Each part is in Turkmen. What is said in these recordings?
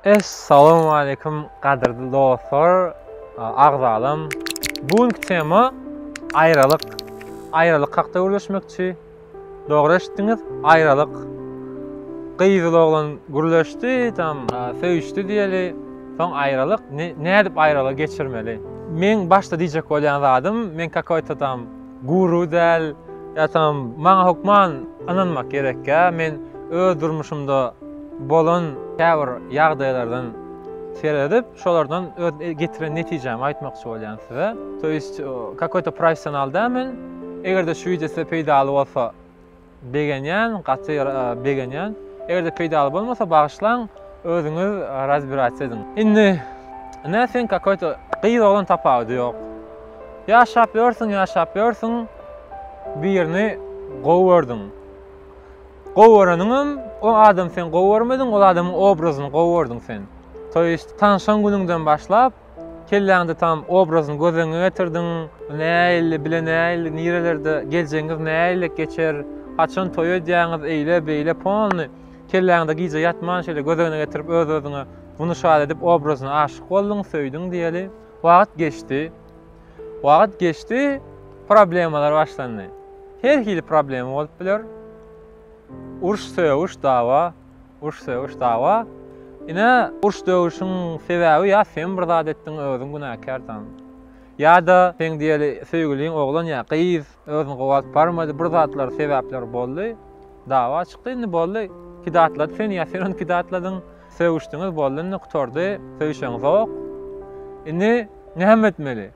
Essalamu aleykum gadyrly dostlar, agzalam. Bu günki tema aýralyk. Aýralyk hakda gürleşmekçi. Dogry eşitdiňiz, aýralyk. Gyzyl oglan gürleşdi, tam söýüşdi diýeli. Soň aýralyk, nädip aýralyk geçirmeli? Men başda diýjek bolýan zadym, men kakoýta tam Guru däl, ýa-da maňa hökman ynanmak gerekkä, men öz durmuşymda bolan käbir ýagdaýlardan seredip, şolardan öz getiren netijämi aýtmakçy bolýan size. To ýest, kakoýto professional däl men. Eger-de şu wideo size peýdaly bolsa, Begenýän gaty begenýän. Egerde peýdaly bolmasa bagyşlaň özüňiz razbirats ediň. Indi nä sen kakoý to gyz oglan tapawudy ýok. Ýaşap ýörsüň ýaşap ýörsüň birini gowy gördüň. Gowy göreniňem o adamy sen gowy görmediň ol adamyň obrazyny gowy gördüň sen. To ýest tanşan günüňden başlap Kelläňde tam obrazyny göz öňüňe getirdiň. Nähili, bile nähili, nirelerde, geljegiňiz nähilek geçer, haçan toý edýäňiz, eýle, beýle, polny. Kelläňde gije ýatman şeýle göz öňüne getirip öz-özüňe buny şaýat edip obrazyna aşyk bolduň, söýdüň diýeli. Wagt geçdi. Wagt geçdi, problemalar başlandy. Her hili problema bolup biler. Uruş-sögüş, dawa. Uruş-sögüş dawa. Ine, uruş-döwüşiň sebäbi ýa sen bir zat etdiň, özüň günäkärsiň. Ýa-da seň diýeli söýgüliň oglan ýa gyz özüni gowalyp barmady, bir zatlar sebäpler boldy. Dawa çykdy, indi boldy. Pidatlady seni ýa sen ony pidatladyň. Sögüşdiňiz, boldy indi gutardy. Söýüşeňizok. Indi näme etmeli?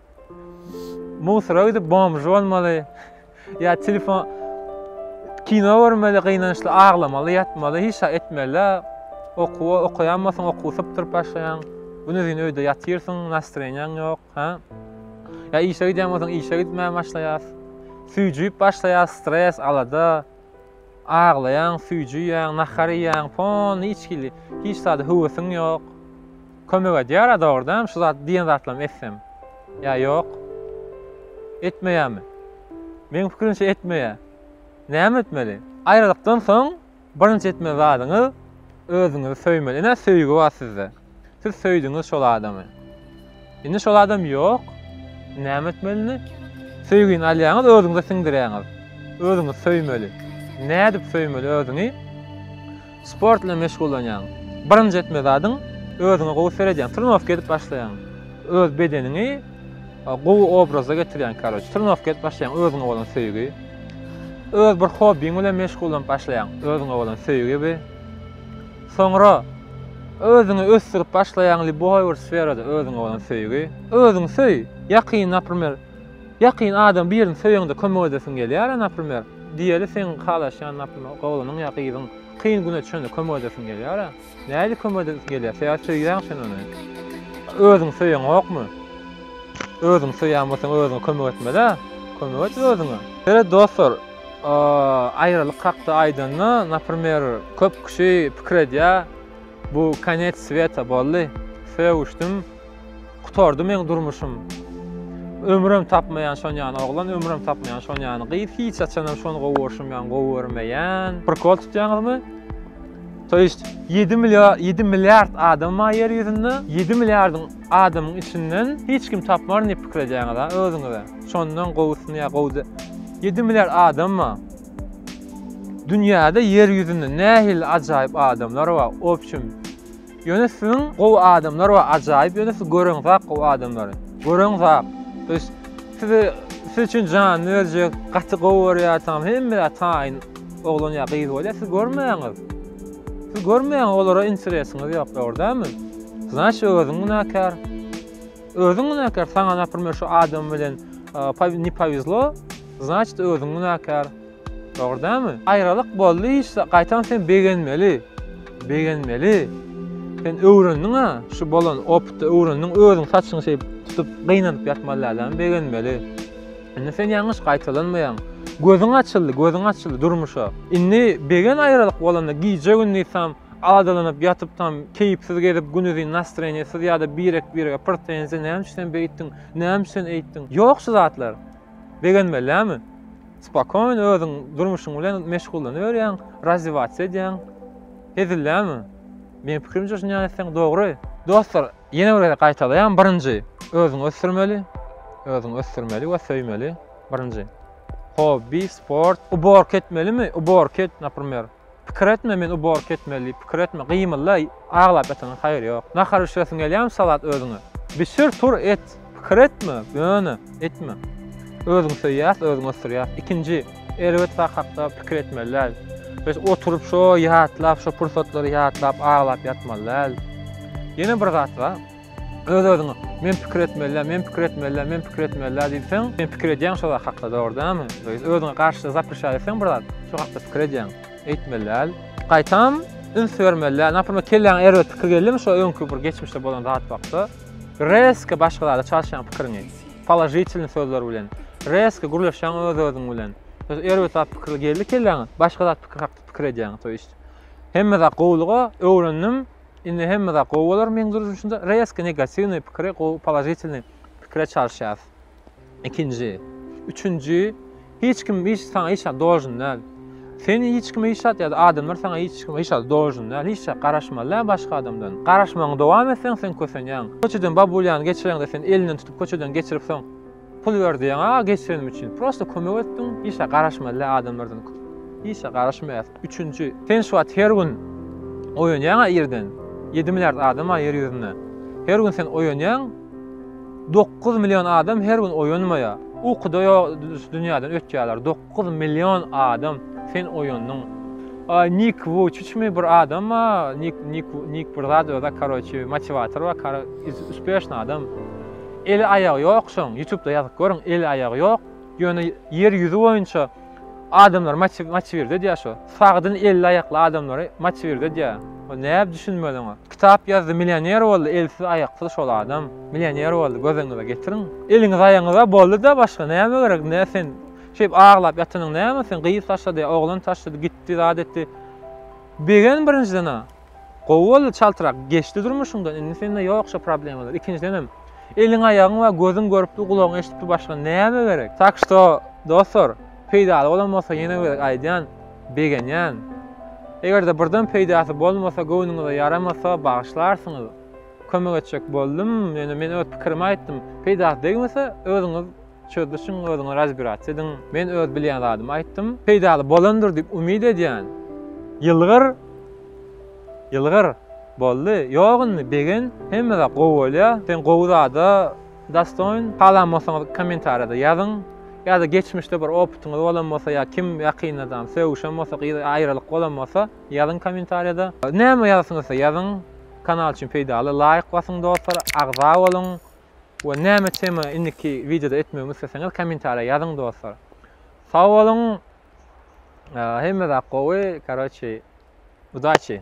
Musora gidip bomžy bolmaly. Ya telefon kino görmeli, gynançly aglamaly, ýatmaly, hiç zat etmeli. Okuwa okaýan bolsaň, okuw sypdyryp başlaýaň. Güni zin öýde ýatyrsyň, nastreniýaň ýok, ha? Ya işe gidýän bolsaň, işe gitmän başlaýas. Süýjüp başlaýas, stres, alada. Aglaýaň, süýjüýäň, nahar iýýäň, pon, içgili. Hiç zat höwesiň ýok. Kömek edýär a dogrydanam şu zat diýen zatlarymy etsem. Ýa ýok. Etmeýärmi? Meň pikirimçe etmeýär. Näme etmeli? Aýralykdan soň birinji etmeli zadyňyz özüňizi söýmeli. Ine söýgi bar sizde. Siz söýdüňiz şol adamy. Indi şol adam ýok. Näme etmeli indi? Söýgini alýaňyz, özüňize siňdirýäňiz. Özüňizi söýmeli. Nädip söýmeli özüňi? Sport bilen meşgullanýaň. Birinji etme zadyň özüňe gowy seredýäň. Trenowka edip başlaýaň. Öz bedeniňi gowy obraza getirýäň karoç. Trenowka edip başlaýaň özüňe bolan söýgi. Öz bir hobbiň bilen meşgullanyp başlaýaň. Özüňe bolan söýgi bi. Soňra özüňi ösdürip başlaýaň liboý bir sferada özüňe bolan söýgi. Özüňi söý. Ýakyn, naprimer, Ýakyn adam birini söýeňde kömek edesiň gelýär-ä naprimer. Diýeli seň halaşýan naprimer oglanyň ýa gyzyň kyn güne düşende kömek edesiň gelýär-ä. Nädip kömek edesiň gelýär? Sebäbi söýýäň sen ony. Özüň söýeňokmy? Özüň söýýän bolsaň özüňe kömek etmeli-ä. Kömek et özüňe. Seret dostlar, aýralyk hakda aýdanda, naprimer, köp kişi pikir edýär, bu konec sweta boldy, sögüşdim, Gutardy meň durmuşym. Ömrem tapmaýan şon ýany oglan, ömrem tapmaýan şon ýany gyz, hiç haçanam şony gowy görşüm ýan gowy görmeýän. Prikol tutýaňyzmy? To ýest 7 milliard 7 milliard adam bar ýer ýüzünde. 7 milliardyň adamyň içinden hiç kim tapmaryn diýip pikir edýäňiz ha özüňize. Şondan gowusyny ýa gowy 7 milliard adam bar. Dünýäde ýer ýüzünde nähili ajaýyp adamlar bar. Obçim Ýöne siziň gowy adamlar we ajaýyp ýöne siz gören zat gowy adamlar. Gören zat. Biz sizi siz üçin janyny berjek gaty gowy görýär tamam hemme zat taýyn oglan ýa gyz bolýar siz görmäňiz. Siz görmäňiz olara interesiňiz ýok dogrydanmy? Znaç özüň günäkär. Özüň günäkär saňa naprimýer şu adam bilen ne powezlo, znaçt özüň günäkär. Dogrydanmy? Aýralyk boldy işde gaýtam sen begenmeli. Begenmeli. Sen öwrendiňa şu bolan opytda öwrendiň özüň saçyňy şeýip tutup gynanyp ýatmaly däl däl begenmeli. Indi sen ýalňyş gaýtalanmaýaň. Gözüň açyldy gözüň açyldy durmuşa. Indi begen aýralyk bolanda gije gündiz tam aladalanyp ýatyp tam keýpsiz gezip günuzyn nastreniýesiz ýada birek birege prtenziýa näme üçin sen beýtdiň näme üçin sen eýtdiň ýok şu zatlar. Begenmeli dälmi? Spokoýno özüň durmuşyň bilen meşgullanyberýäň, razziwasiýa edýäň. Hezillämi? Meň pikirimçe şunýan etseň dogry. Dostlar, ýene bir gezek gaýtalaýan, birinji, özüňi ösdürmeli, özüňi ösdürmeli we söýmeli, birinji. Hobby, sport, uborka etmelimi, uborka et, naprimer. Pikir etme men uborka etmeli pikir etme gymylda aglap ýatyňa haýyr ýok nahar bişiresiň gelýämi salat özüňe bişir tur et pikir etme ýöne etme özüňi söýýäs özüňi ösdürýäs ikinji erbet zat hakda pikir etmeli däl biz oturyp şo ýatlap şo pursatlary ýatlap aglap ýatmaly däl ýene bir zat bar öz özüňe men pikir etmelä, men pikir etmelä, men pikir etmelä diýseň, sen pikir edýäň şo zat hakda dogry dämi? Öz özüňe garşy zapryşýar etseň bir zat, şo hakda pikir edýäň. Eýtmeli däl. Gaýtam üns bermeli däl. Naprimr, kelläňe erbet pikir geldimi şo öňki bir geçmişde bolan zat hakda? Reske başga zada çalşýaň pikiriňi. Položitilny sözler bilen. Reske gürleşýäň öz özüň bilen. Öz erbet zat pikir geldi kelläňe, başga zat pikir hakda pikir edýäň. Toýyst. Hemme zat gowulyga öwrendim. Indi hemme zat gowy bolar meň durmuşymda. Rezki negatiwnyý pikiri gowy položitilnyý pikire çalyşýas. Ikinji. Üçünji. Hiç kim hiç saňa hiç zat dožn däl. Sen hiç kime hiç zat ýa-da adamlar saňa hiç kime hiç zat dožn däl. Hiç zat garaşmaly däl başga adamdan. Garaşmagyňy dowam etseň sen kösenýäň. Köçeden babulýany geçireňde sen elinden tutup köçeden geçiripsiň. Pul berdiň a geçirenim üçin. Prosta kömek etdiň. Işe garaşmaly adamlardan. Işe garaşmaýas. Üçünji. Sen şu wagt her gün oýanýaň a irden. 7 milliard adam a ýer ýüzünde. Her gün sen oýanýaň. 9 million adam her gün oýanmaýa. Ukuda ýok dünýäden ötýärler. Dokuz million adam sen oýandyň. Nik Wuçiçmi bir adam ba, Nik Nik Nik bir zat öza karoçi motiwator ba kar üspešni adam. Eli aýagy ýok şoň ýutubda ýazyp görüň eli aýagy ýok ýöne ýer ýüzi boýunça adamlar maçi maçiwirdi edýä şo sagdyn elli aýakly adamlary maçiwirdi edýä o näb düşünmeli oňa kitap ýazdy millioner boldy elsiz aýaksyz şol adam millioner boldy göz öňüňize getiriň eliňiz aýagyňyza boldy da başga näme gerek nä sen Şeýdip aglap ýatanyň näme sen, gyz taşlady, oglan taşlady, gitdi, zat etdi. Begen birinjiden-ä, gowy boldy, çaltrak geçdi durmuşyňdan, indi sende ýok şo problemalar. Ikinjidenem, eliň-aýagyň bar, gözüň görüpdi, gulagyň eşidipdi, başga näme gerek? Tak şto, dostlar, peýdaly bolan bolsa ýene gezek aýdýan, begenýän. Eger-de birden peýdasy bolmasa, göwnüňize ýaramasa, bagyşlarsyňyz. Kömek etjek boldum, ýöne men öz pikirimi aýtdym. Peýdasy degmese, özüňiz. Çözlişiň özüňe razbirats ediň. Men öz bilýän zadymy aýtdym. Peýdaly bolandyr diýip umyt edýän. Ýylgyr! Ýylgyr! Boldy. Ýok indi, Begen, hemme zat gowy bolýa. Sen gowy zada dastoýn. Halan bolsaňyz kommentariýada ýazyň. Ýa-da geçmişde bir opytyňyz bolan bolsa ýa kim ýakyndadan sögüşen bolsa, gyz aýralyk bolan bolsa, ýazyň kommentariýada. Näme ýazasyňyzsa ýazyň. Kanal üçin peýdaly laýk basyň dostlar, agza boluň. We näme tema indiki wideoda etmegimi isleseňiz komentariýa ýazyň dostlar. Sag boluň. Hemme zat gowy, karoçi, udaçi.